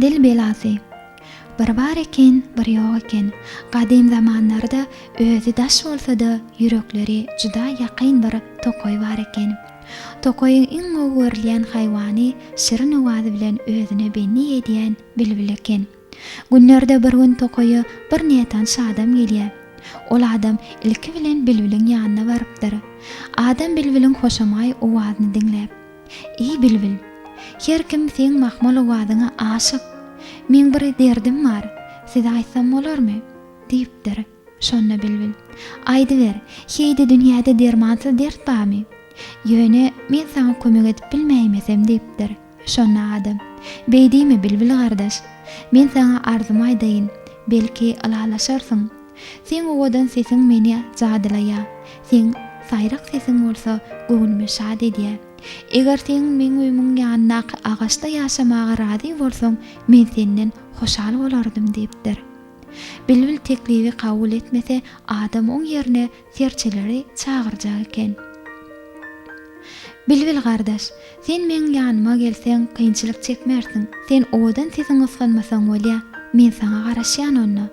Dil belasy. Bir bar eken, bir ýok eken. Gadym zamanlarda özi daş bolsa-da, ýürekleri juda ýakyn bir tokaý bar eken. Tokaýyň iň gowy görülýän haýwany şirin owazy bilen özüne bendi edýän bilbil eken. Günlerde bir gün tokaýa bir nätanyş adam gelýär. Ol adam ilki bilen bilbiliň ýanyna barypdyr. Adam bilbiliň hoşamaý owazyny diňläp. Eý bilbil! Her kim seň mahmal owazyňa aşyk. Meň bir derdim bar. Size aýtsam bolarmy? diýipdir. Şonda bilbil. Aýdyber, heý-de dünýäde dermansyz dert barmy? Ýöne, men saňa kömek edip bilmäýmesem, diýipdir. Şonda adam. Beý diýme, bilbil gardaş. Men saňa arzymy aýdaýyn. Belki, ylalaşarsyň. Seň owadan sesiň meni jadylaýar. Seň saýrak sesiň bolsa göwnümi şat edýär. Eger seň meň öýümiň ýanyndaky agaçda ýaşamaga razy bolsaň, men senden hoşal bolardym, diýipdir. Bilbil teklibi kabul etmese, adam oň ýerine serçeleri çagyrjak eken. Bilbil gardaş, sen meň ýanyma gelseň, kynçylyk çekmersiň. Sen owadan sesiň ysgynmasaň bolýa. Men saňa garaşýan onda.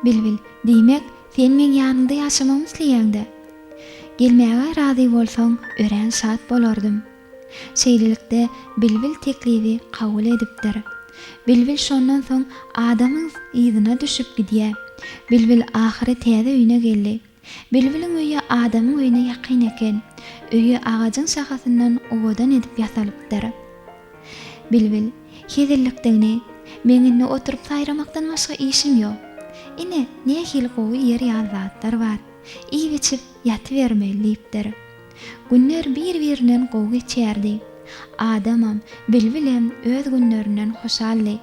Bilbil, diýmek, sen meň ýanyňda ýaşamagymy isleýäň-dä? Gelmäge razy bolsaň, örän şat bolardym. Şeýlelikde, bilbil teklibi kabul edipdir. Bilbil şondan soň adamyň yzyna düşüp gidýär. Bilbil ahyry täze öýüne geldi. Bilbiliň öýi adamyň öýüne ýakyn eken. Öýi agajyň şahasyndan owadan edip ýasalypdyr. Bilbil, Hezillikdigini, meň indi oturyp saýramakdan başga işim ýok. Ine, nähili gowy ýer ýaly zatlar bar. Iýip-içip ýatybermeli diýipdir. Günler bir-birinden gowy geçýärdi. Adamam, bilbilem öz günlerinden hoşaldy.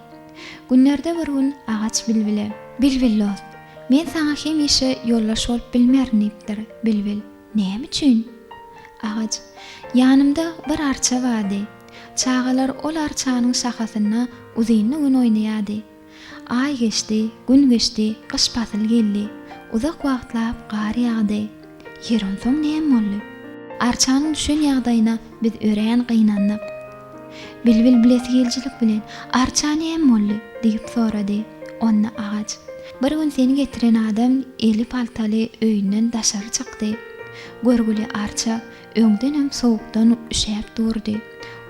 Günlerde bir gün agaç bilbile. Bilbil dost, men saňa hemişe ýoldaş bolup bilmerin diýipdir. Bilbil, Näme üçin? Agaç, Ýanymda bir arça bardy. Çagalar ol arçanyň şahasynda uzynly gün oýnaýardy. Aý geçdi, gün geçdi, gyş pasyly geldi. Uzak wagtlap gar ýagdy. Ýer onsoň näme boldy? Arçanyň düşen ýagdaýyna biz örän gynandyk. Bilbil bilesigelijilik bilen, Arça näme boldy? diýip sorady. Onda agaç, Bir gün seni getiren adam eli paltaly öýünden daşary çykdy. Görgüli arça, Öňdenem sowukdan üşäp durdy.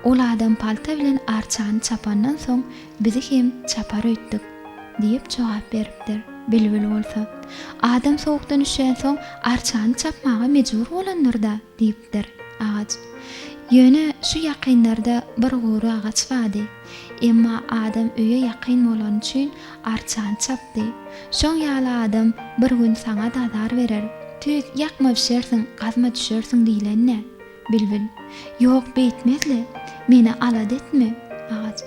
Ol adam palta bilen arçany çapandan soň bizi hem çapar öýtdük, diýip jogap beripdir. Bilbil bolsa, Adam sowukdan üşänsoň arçany çapmaga mejbur bolandyr-da, diýipdir. Agaç. Ýöne şu ýakynlarda bir gury agaç bady. Emma adam öýe ýakyn bolany üçin arçany çapdy. Şoň ýaly adam bir gün saňa-da azar berer. Tüýs, ýakma bişersiň, gazma düşersiň diýlen-dä. Bilbil. Ýok, beýtmez-le. Meni alada etme. Agaç.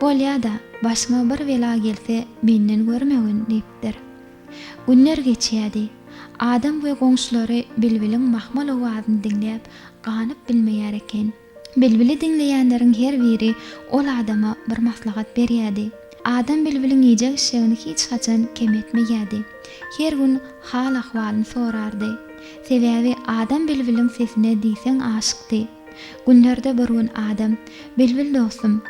Bolýa-da, başyňa bir bela gelse, menden görmegin, diýipdir. Günler geçýärdi. Adam we goňşulary bilbiliň mahmal owazyny diňläp, ganyp bilmeýär eken. Bilbili diňleýänleriň her biri ol adama bir maslahat berýärdi. Adam bilbiliň iýjek-içjegini hiç haçan kem etmeýärdi. Her gün hal-ahwalyny sorardy. Sebäbi adam bilbiliň sesine diýseň aşykdy. Günlerde bir gün adam, Bilbil dostum,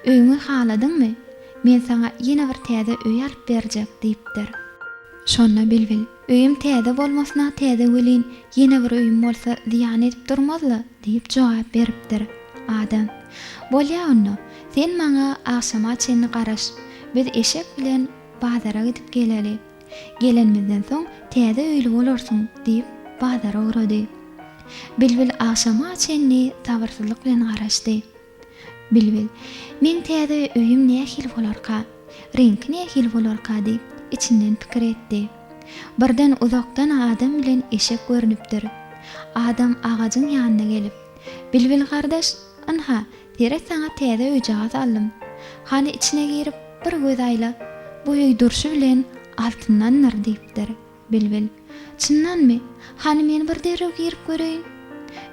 öýüňi haladyňmy? Men saňa ýene bir täze öý alyp berjek, diýipdir. Şonda bilbil, Öýüm täze bolmasyna täze welin, ýene bir öýüm bolsa zyýan edip durmaz-la, diýip jogap beripdir. Adam, Bolýa onda, sen maňa agşama çenli garaş. Biz eşek bilen bazara gidip geleli. Gelenimizden soň täze öýli bolarsyň, diýip, bazara ugrady. Bilbil agşama çenli sabyrsyzlyk bilen garaşdy. Bilbil, Meň täze öýüm nähili bolarka? Reňki nähili bolarka? diýip, içinden pikir etdi. Birden uzakdan adam bilen eşek görnüpdir. Adam agajyň ýanyna gelip, Bilbil gardaş, ynha, seret saňa täze öýjagaz aldym. Hany içine girip, bir göz aýla. Bu öý durşy bilen altyndandyr, diýipdir. Bilbil, Çyndanmy? Hany men bir derrew girip göreýin.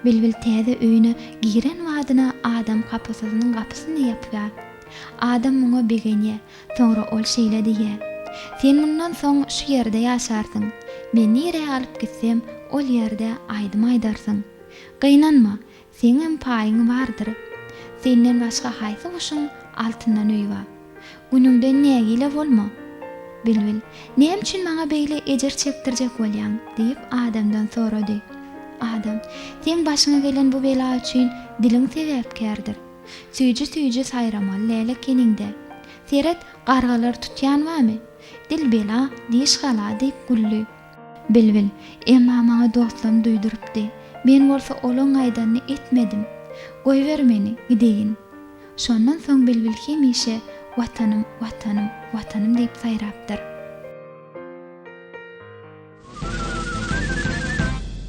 Bilbil täze öýüne giren badyna Adam kapysyzynyň gapysyny ýapýar. Adam muňa begenýär. Soňra ol şeýle diýýär, Sen mundan soň şu ýerde ýaşarsyň. Men nirä alyp gitsem, ol ýerde aýdym aýdarsyň. Gynanma, Seňem paýyň bardyr. Senden başga haýsy guşuň altyndan öýi bar? Günüňden nägile bolma. Bilbil, Näme üçin maňa beýle ejir çekdirjek bolýaň? diýip, adamdan sorady. Adam, Seň başyňa gelen bu bela üçin diliň sebäpkärdir. Süýji-süýji saýramaly däl ekeniň-dä. Seret, gargalar tutýan barmy? Dil bela, diş gala, diýip güldi. Bilbil, Emma maňa dostlarym duýdurypdy. Men bolsa olaň aýdanyny etmedim. Goýber meni, gideýin. Şondan soň bilbil hemişe Watanym, Watanym, Watanym diýip saýrapdyr.